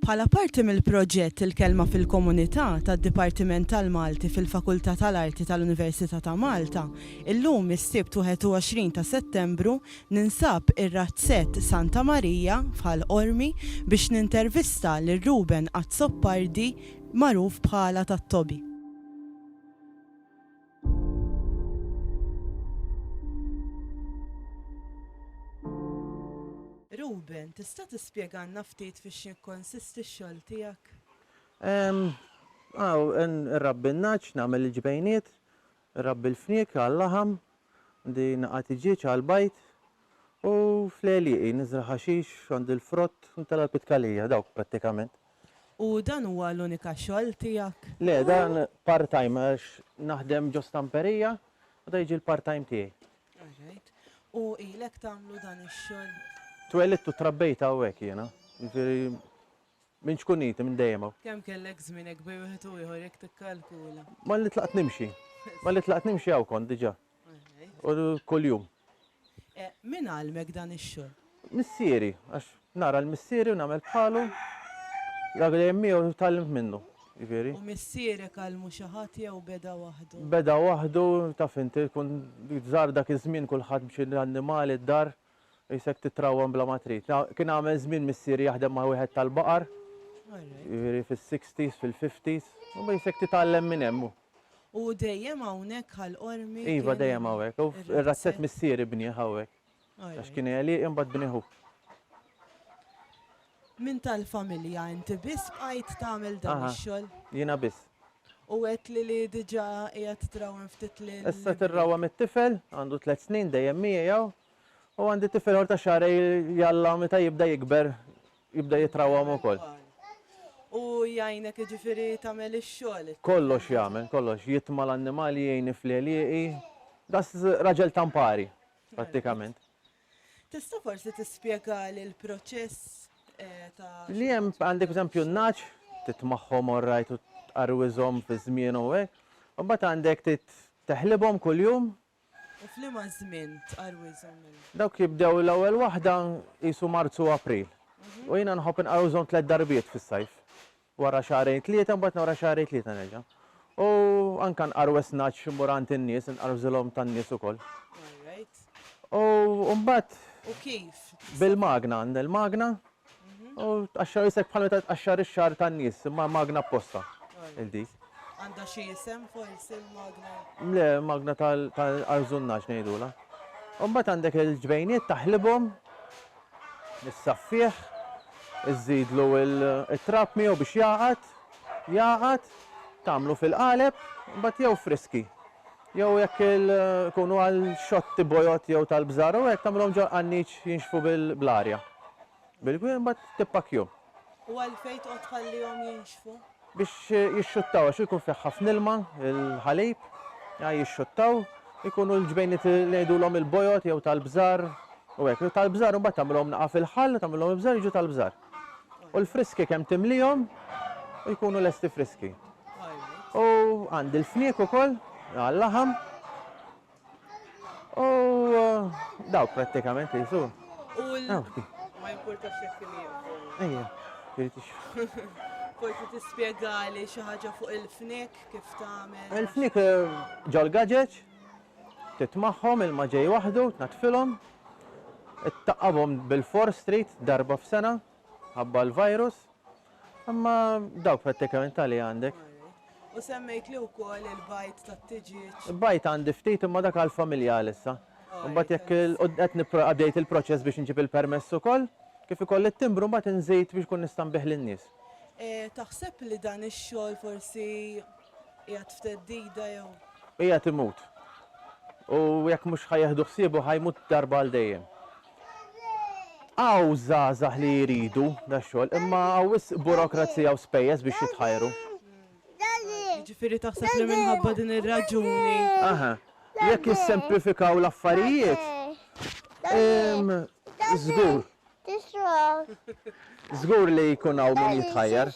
Bħala parti mill-proġett Il-Kelma fil-Komunità tad-Dipartiment tal-Malti fil-Fakultà tal-Arti tal-Università ta' Malta, illum is-Sibt 21 ta' Settembru ninsab ir-Razzett Santa Marija f'Ħal Qormi biex nintervista lil Ruben Azzopardi magħruf bħala tat-Tobi. Reuben, tista' tispjegalna ftit fiex jikkonsisti x-xogħol tiegħek? Ehm, aw, nrabbi n-nagħaġ, nagħmel il-ġbejniet, nrabbi l-fniek għal-laħam, għandi naqa' tiġieġ għall-bajd, u fl-għelieqi niżra' ħaxix, għandi l-frott, u nitella' l-pitkalija, dawk prattikament. U dan huwa l-unika xogħol tiegħek? Le, dan part-time għax naħdem ġo stamperija u dan jiġi l-part-time tiegħi. Alright. U ilek tagħmlu dan ix-xogħol? Twelidt u trabbejt hawnhekk jiena. Jiġifieri minn ċkuniti, minn dejjem hawn. Kemm kellek żmien hekk bejn wieħed u ieħor jekk tikkalkula? Malli tlaqt nimxi. Malli tlaqt nimxi hawn kont diġà. Kuljum. Min għallmek dan ix-xogħol? Missieri, għax nara l-missieri u nagħmel bħalu. Dak li dejjem miegħu tgħallimt minnu, jiġifieri. U missierek għallmu xi ħadd jew beda waħdu? Beda waħdu, taf inti, tkun żgħar dak iż-żmien kulħadd b'xi annimali d-dar. Qisek titrawwem bla ma trid. Kien għamel żmien missieri jaħdem ma' wieħed tal-baqar, jiġifieri fis-sixties, fil-fifties. Imma qisek titgħallem minn hemm. U dejjem hawnhekk Ħal Qormi kien? Iva, dejjem hawnhekk. Ir-razzett missieri bnieh hawnhekk. Għax kien għelieqi mbagħad bnieh hu. Min tal-familja? Inti biss bqajt tagħmel dan ix-xogħol? Aha, jiena biss. U għedtli li diġà qiegħed trawwem ftit lil. Issa qed irrawwem it-tifel, għandu tliet snin dejjem miegħi hawn, u għandi tifel ieħor ta' xahrejn li Alla meta jibda jikber jibda jitrawwam ukoll. U jgħinek jiġifieri tagħmel ix-xogħol it-tifel? Kollox jagħmel, kollox, jitma' l-annimali, jgħinni fl-għelieqi, daqs raġel ta' mpari prattikament. Tista' forsi tispjegali l-proċess ta' Li hemm għandek pereżempju n-nagħaġ, titmagħhom orrajt u tqarwiżhom fi żmienhom u hekk, u mbagħad għandek trid teħlibhom kuljum. U f'liema żmien tqarwiżhom mela? Dawk jibdew l-ewwel waħda qisu Marzu u April. U jiena nħobb inqarwiżhom tliet darbiet fis-sajf. Wara xahrejn tlieta mbagħad wara xahrejn tlieta nerġa'. U anke nqar West Notch immur għand in-nies, inqar f'żilhom tan-nies ukoll. U mbagħad. U kif? Bil-magna, għandna l-magna. U tqaxxar isek bħal meta tqaxxar ix-xagħar tan-nies, imma magna apposta il dik. Għandha xi isem forsi l-magna? Le, magna tal-qarżunnaġġ ngħidulha. U mbagħad għandek il-ġbejniet taħlibhom. Issaffih, iżżidlu t-trab miegħu biex jagħqad, jagħqad, tagħmlu fil-qaleb, imbagħad jew friski, jew jekk ikunu għal xotti bojod jew tal-bżar u hekk tagħmilhom ġol-qanniċ jinxfu bl-arja, bil-gwieħ imbagħad tippakkjhom. U għalfejn tqgħod tħallihom jinxfu? Biex jixxuttaw għax ikun fih ħafna ilma, il-ħalib, jixxuttaw, ikunu l-ġbejniet li ngħidulhom il-bojod jew tal-bżar u hekk. Tal-bżar imbagħad tagħmilhom naqa' fil-ħall, tagħmilhom il-bżar jiġu tal-bżar. U l-friski kemm timlihom u jkunu lesti friski. U għandi l-fniek ukoll għal-laħam U dawk prattikament li jisu. U l- Ah, ok. Ma jimpurtax jekk il-jieqfu. Ejja, trid ix- Forsi tispjegali xi ħaġa fuq il-fnik kif tagħmel. Il-fnik eh, ġol gaġeġ, titmagħhom il-ma ġej waħdu, tnaddfilhom, ittaqqabhom bil-fors trid darba f'sena, ħabba l-virus, imma dawk prattikament ta' li għandek. U semmejtli wkoll il-bajd tat-tiġieġ. Bajd għandi ftit imma dak għall-familja għalissa. Imbagħad jekk qed għaddejt il-proċess biex inġib il-permess ukoll, kif ikolli t-timbru mbagħad inżid biex inkun nista' nbigħ lin-nies. Taħseb li dan ix-xogħol forsi qiegħed f'theddida jew? Qiegħed imut. U jekk mhux ħa jieħdu ħsiebu ħa jmut darba għal dejjem. Hawn żgħażagħ li jridu da xogħol imma hawn wisq burokrazija u spejjeż biex jitħajru. Jiġifieri taħseb li minħabba din ir-raġuni. Aha. Jekk jissemplifikaw l-affarijiet, żgur. Żgur li jkun hawn min jitħajjar.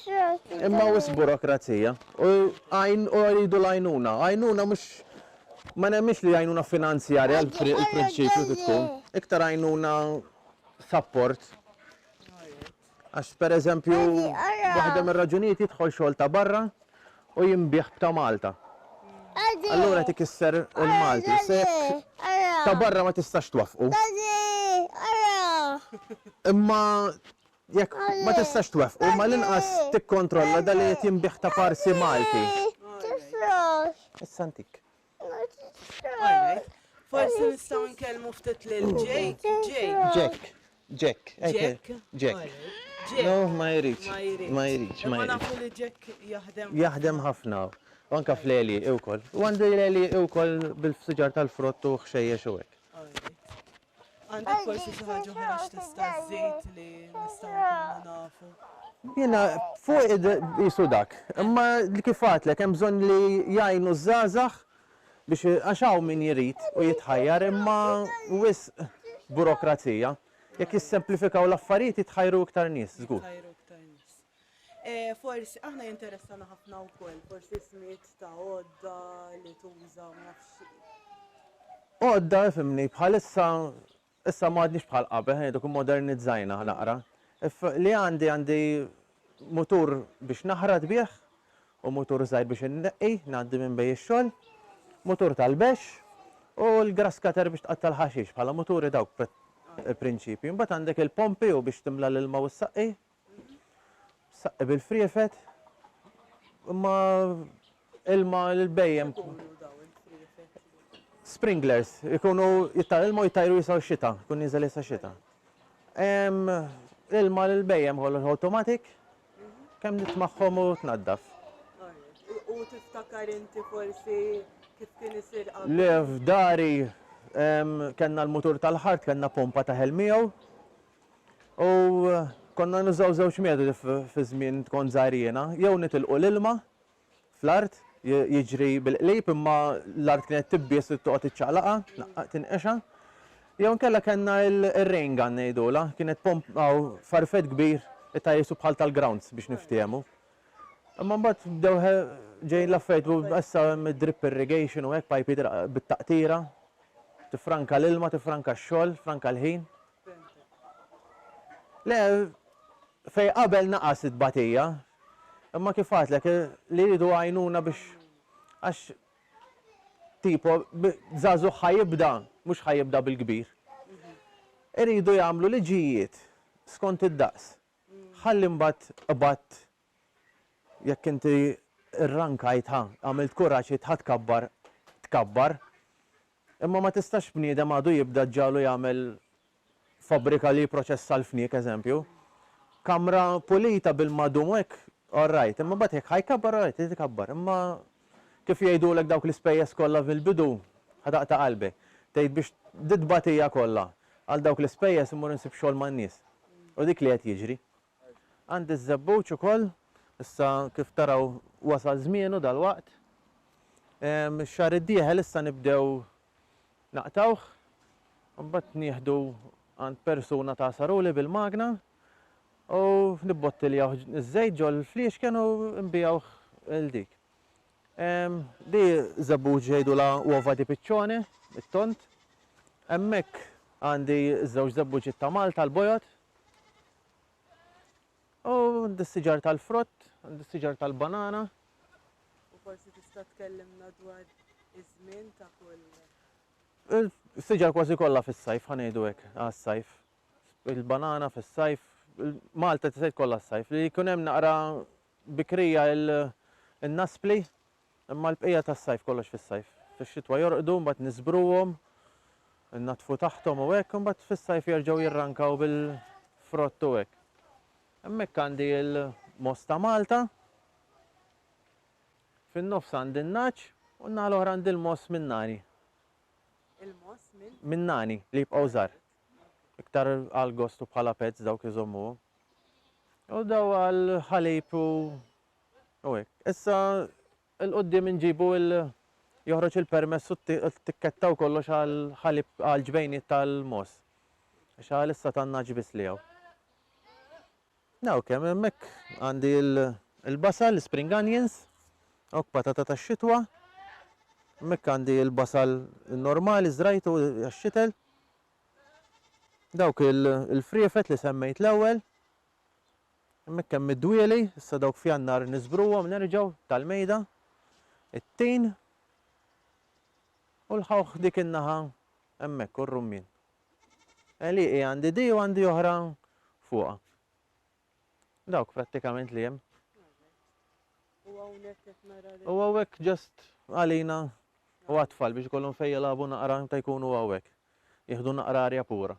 Imma wisq burokrazija. U għajn u jridu l-għajnuna. Għajnuna mhux Ma nemminx li għajnuna finanzjarja l-prinċipju trid tkun, iktar għajnuna sapport. Għax pereżempju waħda mir-raġunijiet jidħol xogħol ta' barra u jinbiegħ b'ta' Malta. Allura qed ikisser il-Malti. Se ta' barra ma tistax twaffqu. Imma Jekk ma tistax tweffqu, mal-inqas tikkontrolla dan li qed jinbiegħ ta' parsi Malti. Ma tifraħx. Issa ntik. Ma tifraħx. Forsi nistgħu nkellmu ftit lil Jake. Jake. Jack. Jack. Jack. Jack. No, ma jridx. Ma jridx. Ma nafu li ġek jaħdem. Jaħdem ħafna. Anka fl-eli, iwkoll. U għandu l-eli iwkoll bil-fsiġar tal-frott u xejjex u hekk. Għandek forsi xi ħaġa oħra x'tista' żżid li nistgħu nkunu nafu? Jiena fuq qisu dak. Imma kif għadtlek hemm bżonn li jgħinu ż-żgħażagħ biex għax hawn min jrid u jitħajjar imma wisq burokrazija. Jekk jissemplifikaw l-affarijiet jitħajru iktar nies żgur. Forsi, aħna jinteressana ħafna wkoll, forsi ismijiet ta' għodda li tuża, ma nafx xi. Għodda, ifhimni, bħalissa, issa ma għadniex bħal qabel, ħa ngħidu kif modernizzajna naqra. Li għandi, għandi mutur biex naħrat bih u mutur żgħir biex inneqqi, ngħaddi minn bejn ix-xogħol, mutur tal-bexx u l-grass cutter biex tqatta' l-ħaxix, bħala muturi dawk il-prinċipji. Imbagħad għandek il-pompi u biex timla l-ilma u ssaqqi, Saqqi bil-friefet, imma ilma l-bejjem. Sprinklers, ikunu jittar ilma u jittajru jisaw xita, kun nizel jisa xita. Ilma l-bejjem għol automatic, kem nitmaħħom u tnaddaf. U tiftakar inti forsi kif kien isir għal? Le, f'dari, kenna l-mutur tal-ħart, kenna pompa ta' ħelmijaw, U konna nużaw żewġ metodi fi żmien kont żgħir jiena, jew nitilqu l-ilma fl-art jiġri bil-qlib imma l-art kienet tibbies u toqgħod iċċaqlaqha, tnaqqaq tinqexha, jew inkella kellna r-rain gun ngħidulha, kienet pompa u farfett kbir ta' qisu bħal tal-grounds biex niftiehmu. Imma mbagħad bdew ġejjin l-affarijiet u issa hemm id-drip irrigation u hekk pajpiet bit-taqtira, tiffranka l-ilma, tiffranka x-xogħol, tiffranka l-ħin. Le, fejn qabel naqas it-tbatija. Imma kif għadtlek, li jridu għajnuna biex, għax tipo, żagħżugħ ħa jibda, mhux ħa jibda bil-kbir. Iridu jagħmlu liġijiet skont id-daqs. Ħalli mbagħad qbadt Jekk inti rrankajtha, għamilt kuraġġ li tħatkabbar, tkabbar. Imma ma tistax bniedem għadu jibda ġġagħlu jagħmel fabbrika li jipproċessa l-fniek, eżempju. Kamra pulita bil-madum u hekk, all right. Imma mbagħad jekk ħa jkabbar, all right, irid ikabbar. Imma kif jgħidulek dawk l-ispejjeż kollha mill-bidu, ħa taqta' qalbi. Tgħid biex di t-tbatija kollha għal dawk l-ispejjeż immur insib xogħol man-nies. U dik li qed jiġri. Għandi ż-żebbuġ ukoll, issa kif taraw wasal żmienu dalwaqt. Ix-xahar id-dieħel issa nibdew naqtgħuh, u mbagħad nieħdu għand persuna tagħsaruli bil-magna u nibbottiljawh iż-żejt ġol-fliexken u nbigħuh 'l dik. Di żebbuġ jgħidulha uova di piccione, it-tond. Hemmhekk għandi ż-żewġ żebbuġiet ta' Malta l-bojod, U għandi s-siġar tal-frott, għandi s-siġar tal-banana. U forsi tista' tkellimna dwar iż-żmien ta' kull. Is-siġar kważi kollha fis-sajf, ħa ngħidu hekk, għas-sajf. Il-banana fis-sajf, Malta tisgħid kollha s-sajf. Li jkun hemm naqra bikrija il-naspli, Imma l-bqija tas-sajf kollox fis-sajf. Fix-xitwa jorqdu, mbagħad niżbruhom, innaddfu taħthom u hekk, imbagħad fis-sajf jerġgħu jirrankaw bil-frott u hekk. Hemmhekk għandi l-mogħoż ta' Malta, fin-nofs għandi n-nagħaġ u n-naħa l-oħra għandi l-mogħoż min-nani. Il-mogħoż minn? Min-nani, li jibqgħu żgħar. Iktar għall-gost u bħala pets dawk iżommuhom. U daw għall-ħalib u U hekk. Issa 'l quddiem inġibu il joħroġ il-permess u t-tikketta u kollox għal ħalib għal ġbejniet tal-mogħoż. Għax għalissa ta' ngħaġ biss li hawn. Hawn kemm hemmhekk għandi l-basal, l-spring onions, hawn patata tax-xitwa. Hemmhekk għandi l-basal normali żrajtu għax-xitel. Dawk il-friefet li semmejt l-ewwel. Hemmhekk hemm id-dwieli, issa dawk f'Jannar niżbruhom nerġgħu tal-mejda, it-tin u l-ħawħ dik in-naħa hemmhekk u r-rummien. Għelieqi għandi di u għandi oħra fuqha. Dawk prattikament li hemm. U hawnhekk qed nara U hawnhekk ġast għalina u għatfal biex ikollhom fejn jilagħbu naqra ta' jkunu hawnhekk. Jieħdu naqra arja pura.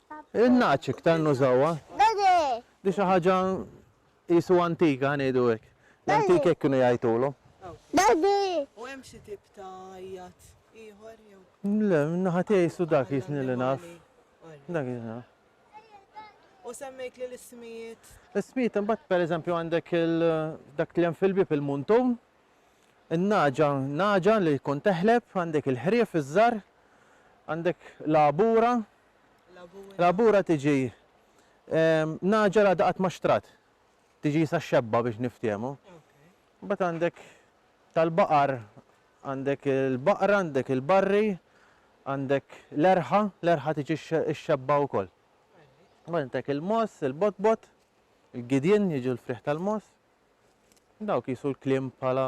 In-nagħaġ iktar nużawha. Di xi ħaġa qisu antika, ngħidu hekk. L-antiki hekk kienu jgħajtulhom. U hemm xi tip ta' għajjat ieħor jew? Le, min-naħa tiegħi qisu dak jisni li naf. Dak jisni naf. U semmejtli l-ismijiet? L-ismijiet imbagħad pereżempju għandek dak li hemm fil-bieb il-muntun, in-nagħġa, nagħġa li tkun teħleb, għandek il-ħrief iż-żgħar, għandek l-għabura, Labura tiġi nagħġel għadha qatt ma xtrat. Tiġi jisa xebba biex niftiehmu. Mbagħad għandek tal-baqar għandek il-baqra, għandek il-barri, għandek l-erħa, l-erħa tiġi x-xebba wkoll. Għandek il-moss, il-botbot, il-gidjen jiġu l-friħ tal-moss. Dawk jisu l-klim bħala